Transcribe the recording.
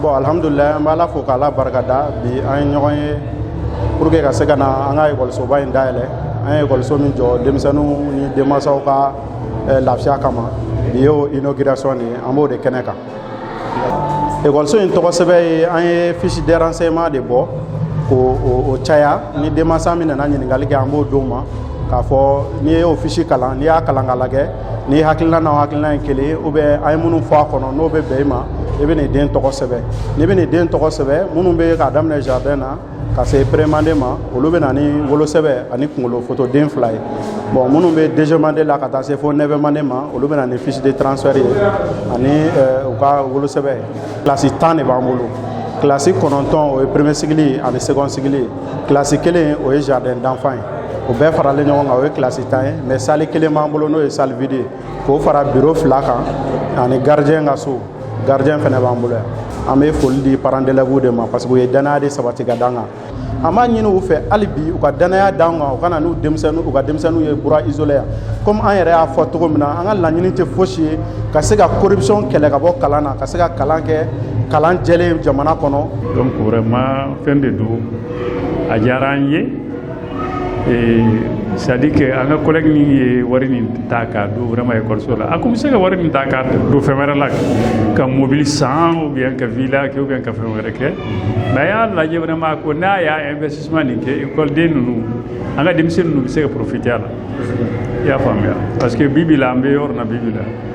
bon alhamdulillah an b'ala fo k'ala barikada bi an ye ɲɔgɔn ye pour que ka se ka na an ka ekɔlisoba in dayɛlɛ an ye ekɔliso min jɔ denmisɛnninw ni denmansaw ka eh, lafiya kama bi y'o inauguration de ye an b'o de kɛnɛ kan ekɔliso in tɔgɔ sɛbɛn ye an ye fiche de renseignement de bɔ k'o caya ni denmansa min nana ɲininkali kɛ an b'o d'o ma k'a fɔ n'i y'o fiche kalan n'i y'a kalan ka lajɛ n'i hakilina n'an hakilina ye kelen ye ou bien an ye minnu fɔ a kɔnɔ n'o bɛ bɛn i ma i bɛ n'i den tɔgɔ sɛbɛn n'i bɛ n'i den tɔgɔ sɛbɛn minnu bɛ k'a daminɛ jardin na ka se première année ma olu bɛ na ni wolosɛbɛn ani kunkolo foto den fila ye bon minnu bɛ deuxième année la ka taa se fo neuvième année ma olu bɛ na ni fiche de transfert ye ani eh, u ka wolosɛbɛn kilasi tan de b'an bolo kilasi kɔnɔntɔn o ye premier cycle ani second cycle ye kilasi kelen o ye jardin d'enfant ye o bɛɛ faralen ɲɔgɔn kan o ye kilasi tan ye mais salle kelen b'an bolo n'o ye salle vide ye k'o fara biro fila kan ani garijɛn ka so garijɛn fɛnɛ b'an bolo yan an bɛ foli di parents d'élèves de ma parce que u ye danaya de sabati ka d'an kan an b'a ɲini u fɛ hali bi u ka danaya d'an kan u ka na n'u denmisɛnnin u ka denmisɛnninw ye bura isolé yan komi an yɛrɛ y'a fɔ cogo min na an ka laɲini tɛ fosi ye ka se ka corruption kɛlɛ ka bɔ kalan na ka se ka kalan kɛ kalan jɛlen jamana kɔnɔ donc vraiment fɛn de don a diyara an ye c'est-à-dire que an ka collègue min ye wari min ta k'a don vraiment ekɔliso la a kun bɛ se ka wari nin ta k'a don fɛn wɛrɛ la ka mobili san ou bien ka villa kɛ ou bien ka fɛn wɛrɛ kɛ mais a y'a lajɛ vraiment ko n'a y'a investissement nin kɛ ekɔliden ninnu an ka denmisɛnnin ninnu bɛ se ka profiter a la i y'a faamuya parce que bibi la an bɛ yɔrɔ na bibi la